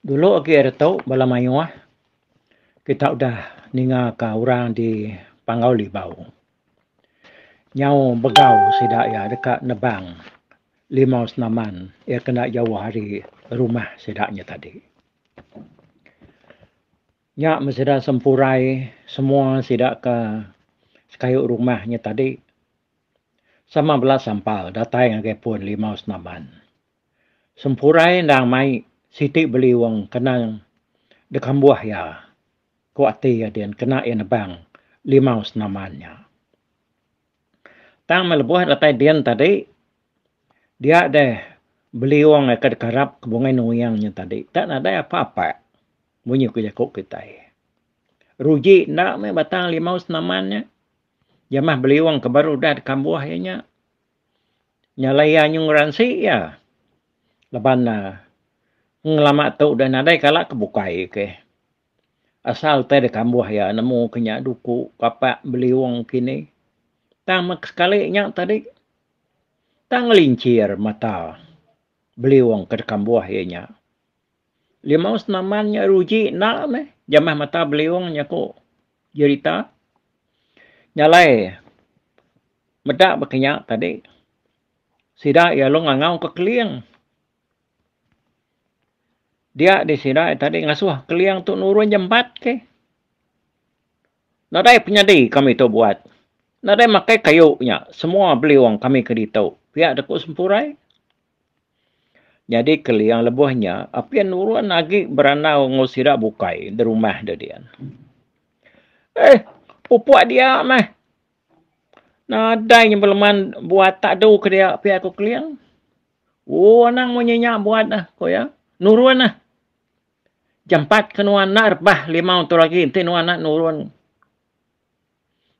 Dulu agi ari tu bala mayuh kita udah ninga ka orang di Panggau Libau nyau begau sida iya deka nebang limau senaman iya ke enda jauh ari rumah sida nya tadi. Nya men sida sempurai semua sida ka sekayu rumah nya tadi sama bala sampal datai ngagai pun limau senaman. Sempurai endang mai siti beli wang kena dekambuh iya, ku ati Adin kena iya nebang limau senaman nya. Tang meh lebuh datai din tadi, dia deh beli wang iya ke dekarap ke bungai nuyang nya tadi enda nadai apa-apa munyi ku jaku kitai. Ruji enda meh batang limau senaman nya jamah beli wang ke baru udah dekambuh iya nya. Nyalai iya nyau ngeransi iya laban ne ngelama tu deh nadai kala ke bukai ke. Asal utai deh kambuh iya nemu ke nya duku papak beliung kini. Tang meh sekali nya tadi tang ngelincir mata beliung ke dikambuh iya nya. Limau senaman nya ruji enda meh jamah mata beliung nya ku jerita nyalai meda ba kinya tadi sida iya lalu ngangau ka keling dia di sida tadi ngasuh keling tu nurun jempat ke nadai penyadi kami tu buat nadai makai kayu nya semua beliung kami ke ditu pia doku sempurai. Nyadi Keling lebuh nya, apin nurun agi berandau enggau sida bukai di rumah deh dian. Eh, pupuk dia meh. Nadai nyebut leman buat tak du ke dia pia ku Keling. Oh, anang munyi nya buat neh, ku iya. Nurun neh. Jampat ke nuan enda rebah limau tu lagi enti nuan enda nurun.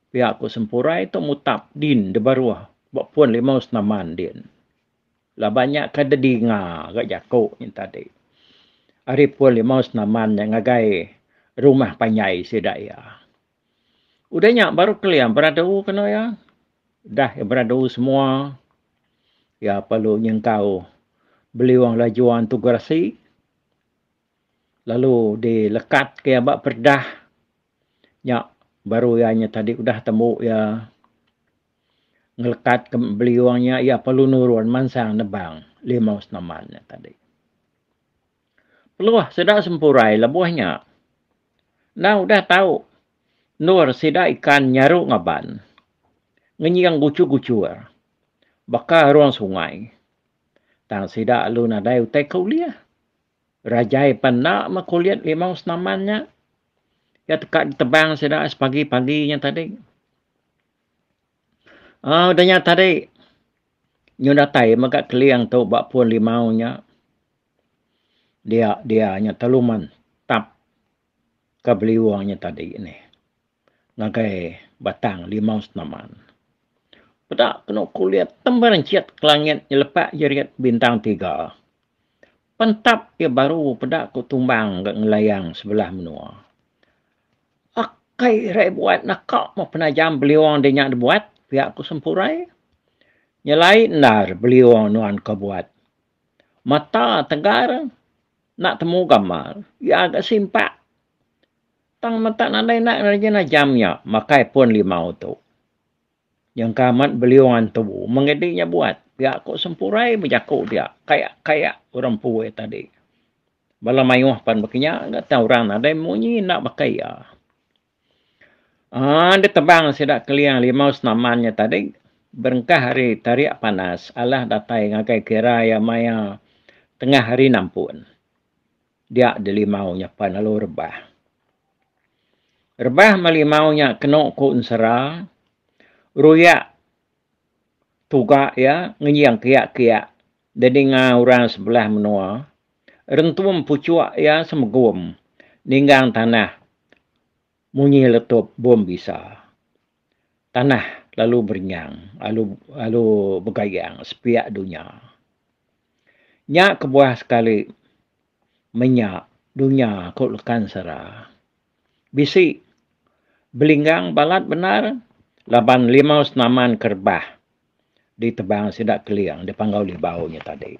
Pia ku Sempurai tu mutap din dibaruh ba pun limau senaman din. Laban nya ke didinga ga jaku nya tadi ari pun limau senaman nya ngagai rumah panjai sida iya. Udah nya baru kelia beradu ke anu iya. Udah iya beradu semua iya perlu nyengkau beliung lajuan tu gerasi lalu dilekat ke iya ba peredah Nya baru iya nya tadi udah tembu iya ngelekat ke beliung nya iya perlu nurun mansang nebang limau senaman nya tadi. Peluh sida sempurai lebuh nya endang udah tau endur sida ikan nyaru ngaban ngenying guchur-guchur baka ruang sungai tang sida lalu nadai utai ke ulih. Rajai pan enda meh kulit limau senaman nya. Iya teka ditebang sida ais pagi-pagi nya tadi. Au udah nya tadi nyu datai mega keling tu ba puan limau nya. Dia dia nya telu mantap. ka beliung nya tadi nih ngagai batang limau senaman. Peda kenu kulit temberenchit ke langit nyelepak jerit bintang tiga. Pentap iya baru peda ku tumbang ga ngelayang sebelah menua. Akai rai buat naka meh penajam beliung deh nya dibuat pia ku Sempurai. Nyelai endar beliung nuan ka buat Mata tegar enda temu gambar. Iya ga simpak. Tang mata nadai enda nerejena jam iya makai pun limau tu. Nyengka amat beliung antu meng idi iya buat. Pia ku sempurai bejaku dia. Kayak kayak orang empu iya tadi. Bala mayuh pan baka iya ga tau orang nadai munyi enda baka iya. Aaa deh tebang sida kelia limau senaman nya tadi berengkah ari tarik panas alah datai ngagai kira iya maya tengah hari nampun. Dia deh limau nya pan lalu rebah. Rebah meh limau nya kenu ku ensera ruyak tuga iya ngenying kiak-kiak Dininga orang sebelah menua, rentum puchuk iya semegum ninggang tanah munyi letup bom bisa. Tanah lalu berenyang lalu lalu begayang sepiak dunya. Nya kebuah sekali menya dunya ku Lekan Sara. Bisi belinggang balat bendar laban limau senaman ke rebah. di tebang sida Keling di Panggau Libau nya tadi.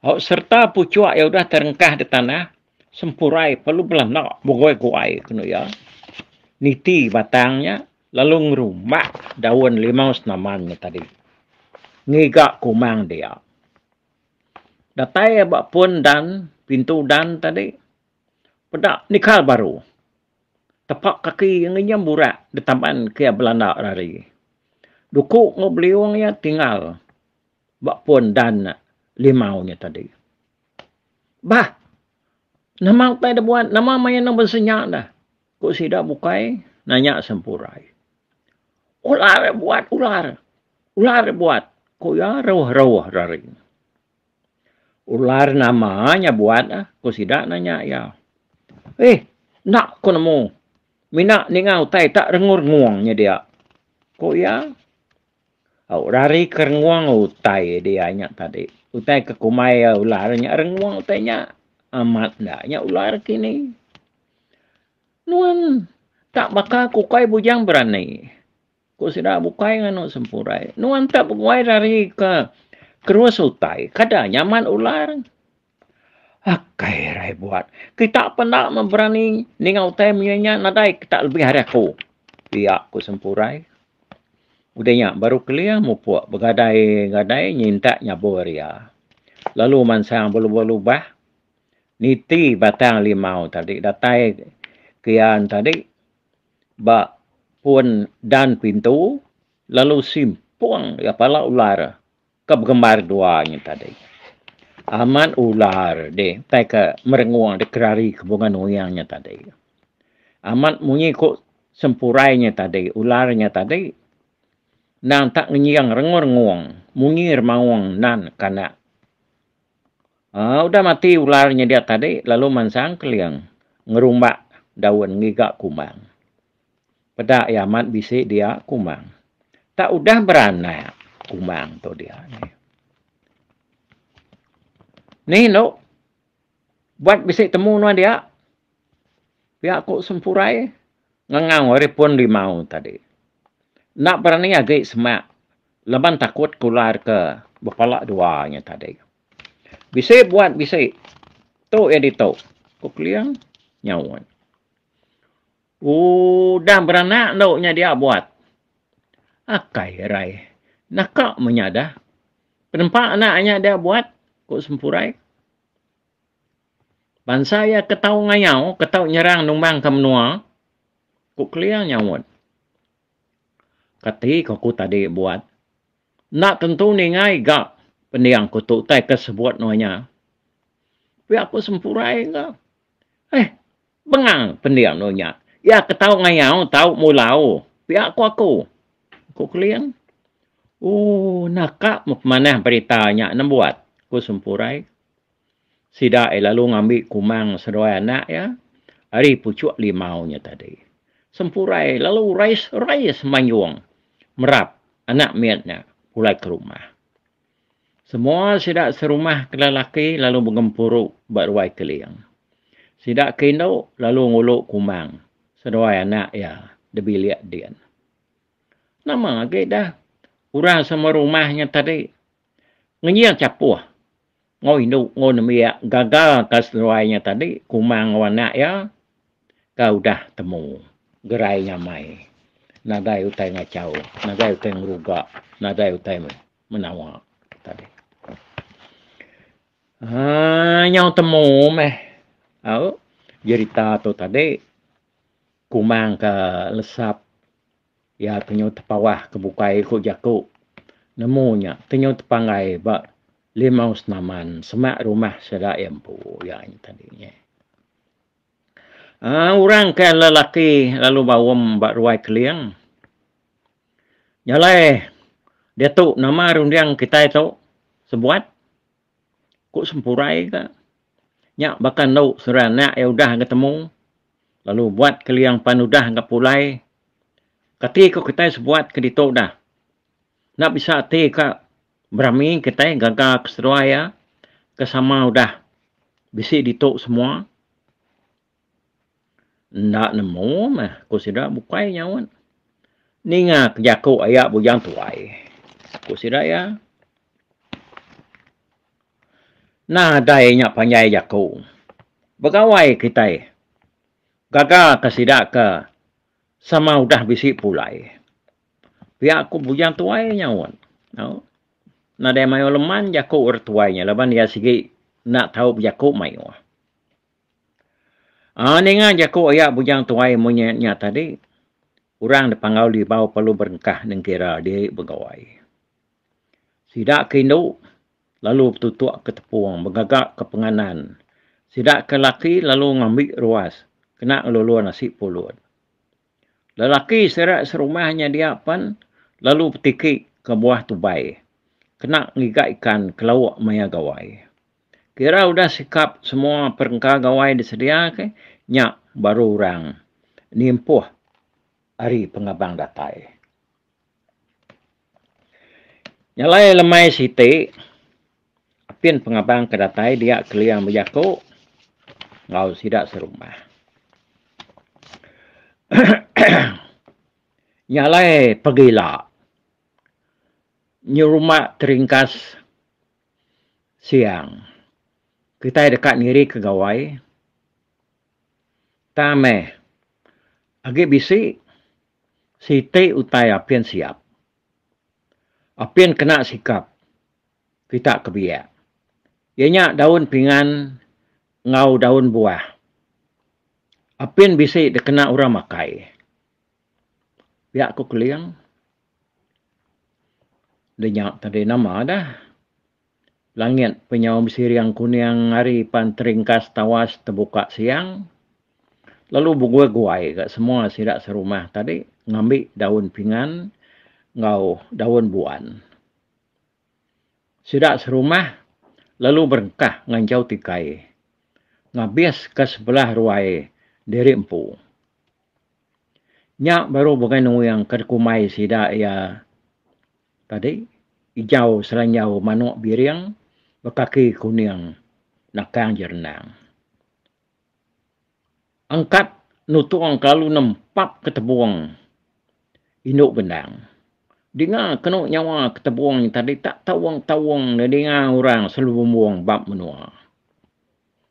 Au sereta puchuk iya udah terengkah di tanah sempurai perlu belanak beguai-guai kenu iya niti batang nya lalu ngerumak daun limau senaman nya tadi ngiga kumang dia. Datai iya ba pun dan pintu dan tadi peda nikal baru. Tepak kaki iya ngenyam burak di taban ke iya belanda ari. Duku enggau beliung iya tinggal ba pun dan limau nya tadi. Bah! Nama utai da buat? Nama maya enang bansa nya da? Ku sida bukai nanya Sempurai. Ular buat ular. Ular buat, ku iya rauh-rauh ari. Ular nama nya buat ah? ku sida nanya iya. Eh, enda ku nemu. Mina ninga utai tak rengung-rengung nya dia, ku iya. Au rari ke rengung utai dia nya tadi. Utai ke kumbai ular nya rengung utai nya. Amat enda nya ular kini. Nuan tak baka ku ukai bujang berani. Ku sida bukai nganu sempurai. Nuan tak beguai dari ke kerus utai. Kada nyaman ular. Akai rai buat. Kita penda memberani ninga utai menyenya nadai kita lebih hari aku. Pia ku sempurai. Udah nya baru kelia mupuk begadai-gadai nyintak nyabur iya. Lalu mansang belubah-lubah niti batang limau tadi datai ke iya tadi. ba pun dan pintu lalu simpung iya pala ular ke begembar dua nya tadi. Amat ular dih tai ke merengung dih kerari ke bunga nuing nya tadi. Amat munyi ku sempurai nya tadi, ular nya tadi endang tak ngenying rengung-rengung munyi remaung nan kanak. Udah mati ular nyedia tadi lalu mansang Keling ngerumbak daun ngiga kumbang. Peda iya amat bisi dia kumbang. Tak udah beranak kumbang tu dia ni. Ni endo buat bisi temu nuan dia. Pia ku Sempurai ngangau ari pun limau tadi. Enda berani agi semak Laban takut ke ular ke bepala dua nya tadi. Bisi buat bisi. Tu iya ditu, ku Keling nyaut. Udah beranak endo nya dia buat. Akai arai. Naka menyadah. Penempa anak nya dia buat, ku Sempurai. Bansa iya ke tau ngayau, ke tau nyerang numbangka menua, ku Keling nyaut. Kati ke aku tadi buat. Enda tentu ningai ga pendiang aku tu utai ke sebut nuan nya. Tapi aku sempurai ga. Heh bengang pendiang nuan nya. Iya ke tau ngayau, tau mulau pia ku aku. Ku Kelin. Ooh naka mu pemanah berita nya nembuat, ku Sempurai. Sida ai lalu ngambi kumang seduai anak iya ari puchuk limau nya tadi. Sempurai lalu rais-rais mayung merap anak mit nya pulai ke rumah. Semua sida serumah ke lelaki lalu begempuru ba ruai keling. Sida ke indu lalu ngulu kumang seduai anak iya da bilik din. Nama agi dah orang sama rumah nya tadi ngenyil chapuh. Enggau indu enggau nembiak gaga ka seduai nya tadi Kumang enggau anak iya ka udah temu gerai nyamai nadai utai ngachau nadai utai ngeruga nadai utai menawa tadi aaa nyau temu meh au jerita tu tadi Kumang ka lesap Iya tenyau tepawah ke bukai ku jaku. Nemu nya tenyau tepanggai ba limau senaman semak rumah sida iya empu iya nya tadi nya. Aaa orang ke lelaki lalu baum ba ruai Keling. Jalai diatu nama runding kitai tu sebuat? Ku Sempurai ka, nya baka enu seranak iya udah betemu lalu buat keliang pan udah ga pulai. Kati ku kitai sebuat ke ditu dah. Enda bisa ati ka berami kitai gaga keseduai iya ke sama udah bisi ditu semua. Enda nemu meh ku sida bukai nyaut. Ninga ke jaku aya bujang tuai, ku sida iya. Nadai nya panjai jaku. Begawai kitai gaga ke sida ke sama udah bisi pulai. Pia ku bujang tuai nyaut. Au. Nadai mayuh leman jaku orang tuai nya laban iya sigi enda tau bejaku mayuh. Aa ninga jaku iya bujang tuai monyet nya tadi, orang da panggau libau perlu berengkah nengkira diri begawai. Sida ke indu lalu betutuk ke tepung begaga ke penganan. Sida ke laki lalu ngambi ruas kena ngelulun asi pulut. Lelaki sida serumah nya dia pen lalu betiki ke buah tubai kena ngiga ikan ke lauk maya gawai. Kira udah sikap semua perengka gawai disedia ke nya baru orang nimpuh ari pengabang datai. Nyalai lemai siti apin pengabang ke datai dia kelia bejaku enggau sida serumah. Nyalai pegila nyerumba teringkas. siang. Kitai deka nirika gawai tang meh agi bisi siti utai apin siap. Apin kena sikap kita ke biak iya nya daun pingan enggau daun buah. Apin bisi dikena orang makai. Pia ku Kuling. Lenya tadi nama dah. Langit penyau besiring kuning hari pan teringkas tawas tebuka siang lalu beguai-guai ga semua sida serumah tadi ngambi daun pingan enggau daun buan. Sida serumah lalu berengkah nganjau tikai ngabis ka sebelah ruai diri empu. Nya baru bukai nuyang ke dikumbai sida iya tadi ijau selanjau manuk biring bekaki kuning nakang je rendang. Angkat nutung ke lalu nempap ke tebung indu gendang. Dinga kenu nyawa ke tebung tadi tak taung-taung nedinga orang selalu bumbung bab menua.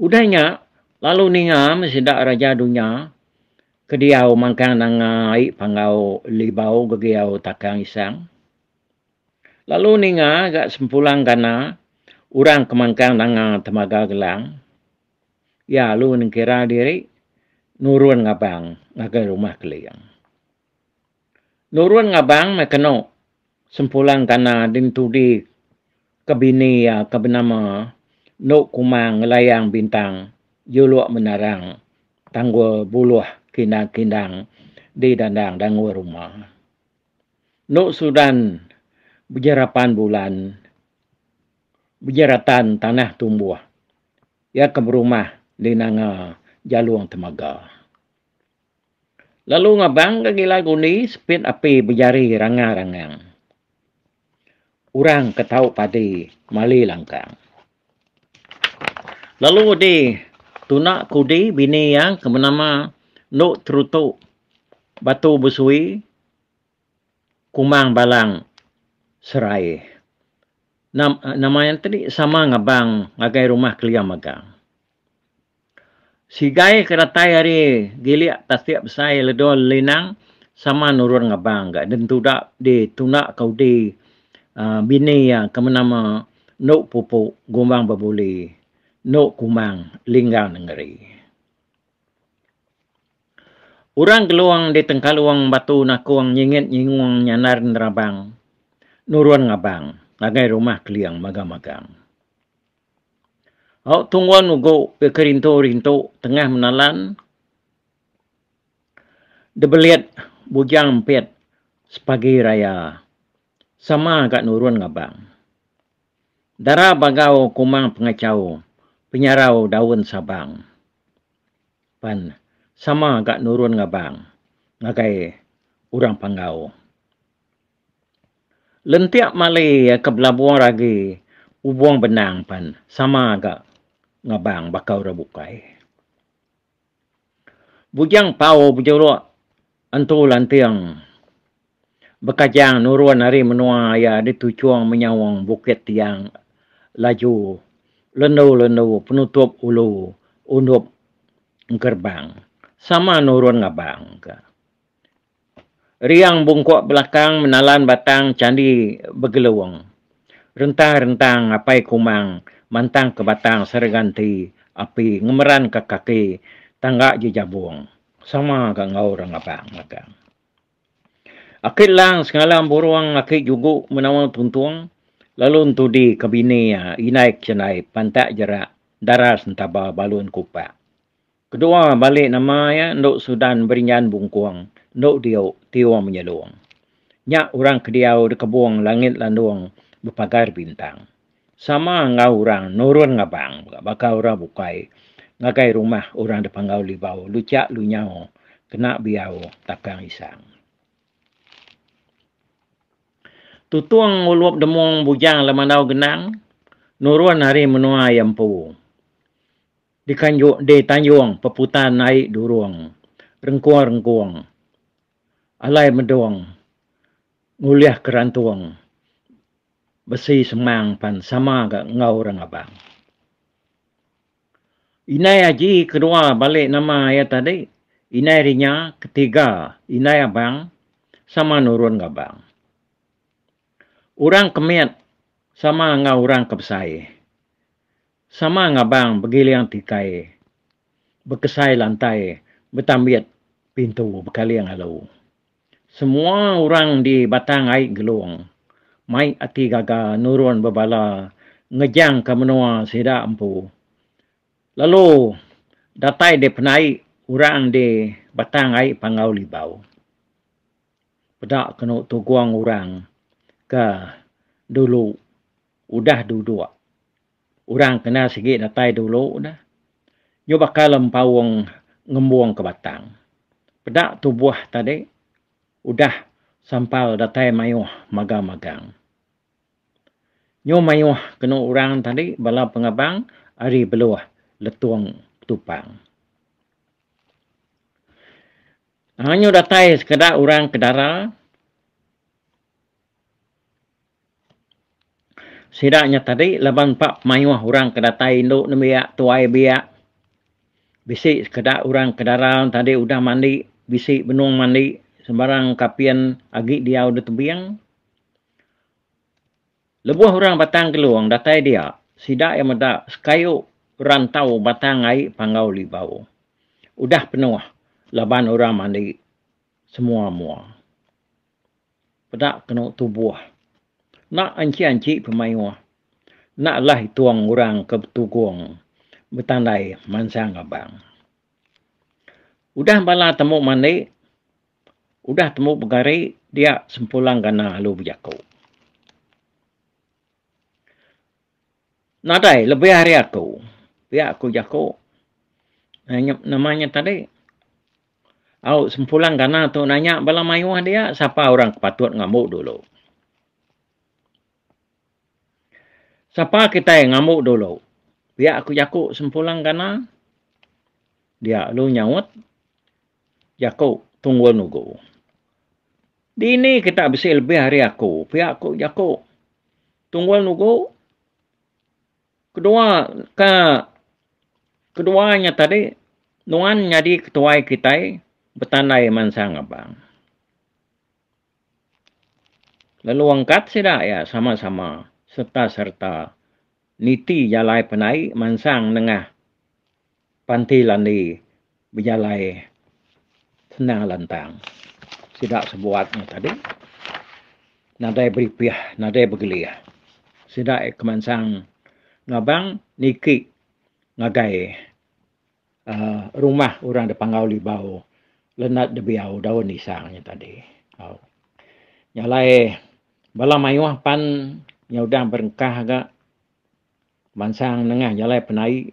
Udah nya, lalu ninga meh sida raja dunya ke diau mangkang nanga ai panggau libau gegiau takang isang. Lalu ninga ga sempulang gana orang ke mangkang nanga temaga gelang, iya lalu nengkira diri nurun ngabang ngagai rumah Keling. Nurun ngabang meh kenu. Sempulang kana dintudi ke bini iya ke benama Enu Kumang Ngelayang Bintang juluk menarang tanggul buluh kindang-kindang di dandang dangul rumah. Enu Sudan bejerapan bulan bejeratan tanah tumbuh iya ke berumah di nanga Jalung Temaga. Lalu ngabangka gilang undi sepit api bejari ranga rangang. Orang ke tau padi mali langkang. Lalu di tuna kudi bini iya ke benama Endo Terutu Batu Besui Kumang Balang Serai nama iya tadi sama ngabang ngagai rumah kelia mega. Sigai ke datai hari gilik tasik besai ledo linang sama nurun ngabang ga den tuda di tunda ka udi aaa bini iya ke menama Endu Pupu Gumbang Bebuli Endu Kumbang Linggang Nengeri. Orang Gelong di Tengkalong Batu Nakong Nyingit Nyingung Nyandar Nerabang nurun ngabang ngagai rumah Keling Magang Magang. Au tunggun ugu ke kerintu-rintu tengah menalan debelit bujang empit sepagi raya sama ga nurun ngabang. Dara bagau kumang pengachau penyarau daun sabang pan sama ga nurun ngabang ngagai urang panggau. Lentik mali ke belabung agi ubung benang pan sama ga ngabang baka orang bukai. Bujang pau bejuruk entu lanting bekajang nurun ari menua iya dituchung menyaung bukit tiang laju lendu-lendu penutup ulu undup engkerbang sama nurun ngabang ka. Riang bungkuk belakang menalan batang chandi begelung. Rentang-rentang apai Kumang mantangka batang serega enti api ngemeranka kaki tangga jejabung sama ga enggau orang abang magang. Aki Lang sengalam burung aki Jugu menaul tuntung lalu entudi ke bini iya Indai Kesendaip pantak jerak daras entaba balun kupak. Kedua balik nama iya endu Sudan Berinjan Bungkung endu diu Tiong Menyelong. Nya orang ke diau di kebong langit landong bepagar bintang. Sama enggau orang nurun ngabang mega baka orang bukai ngagai rumah orang dipanggau Libau Luchak Lunyau kena biau takang isang. Tutung Ulup Demong Bujang Lemandau Genang nurun ari menua iya empu. Dikanjung di tanjung peputan nai durung rengkung-rengkung alai medung ngulih kerantung besi semang pan sama ga enggau orang abang. Indai aji kedua balik nama iya tadi indai rinya ketiga indai abang sama nurun ga abang. Orang ke mit sama enggau orang ke besai. Sama ngabang begiling tikai bekesai lantai betambit pintu bekaling alu. Semua urang di Batang Ai Gelong mai ati gaga nurun bebala ngejang ka menua sida empu. Lalu datai di penai urang di Batang Ai Panggau Libau. Peda kenu tugong urang ka dulu. udah duduk. Orang kena sigi datai dulu dah. Nyu bakal empaung ngembung ke batang. Peda tubuh tadi udah sampal datai mayuh maga magang. Nyu mayuh kenu orang tadi bala pengabang ari beluh letung tupang. Nyu datai sekeda orang ke dara. Sida nya tadi laban empa pemayuh orang ke datai indu nembiak, tuai biak. Bisi sekeda orang ke dara tadi udah mandi, bisi benung mandi sembarang kapin agi diau da tebing. Lebuh orang Batang Gelung datai dia, sida iya meda sekayu rantau batang ai Panggau Libau. Udah penuh laban orang mandi semua-mua. peda kenu tubuh enda anchi-anchi pemayuh enda alah itung orang ke betugung betandai mansang abang. Udah bala tembu mandi udah tembu begari dia sempulang gana alu bejaku. Nadai lebih ari aku pia ku jaku nama nya tadi. Au sempulang gana tu nanya bala mayuh dia sapa orang ke patut ngambu dulu. Sapa kitai ngambu dulu? Pia ku jaku sempulang gana. Dia lu nyaut jaku tunggul nugu. Dini kita bisi lebih ari aku? Pia ku jaku tunggul nugu. Kedua ke kedua nya tadi nuan nyadi ketuai kitai betandai mansang Abang. Lalu angkat sida iya sama-sama sereta-sereta niti jalai penai mansang nengah Panti Landi bejalai senang lantang. Sida sebuat nya tadi nadai beripih, nadai begelih. Sida aye kemansang ngabang niki ngagai uhh rumah orang da Panggau Libau Leonard De Biau Daun Isang nya tadi. Au. Nya alai bala mayuh pan nya udah berengkah ga mansang nengah jalai penai.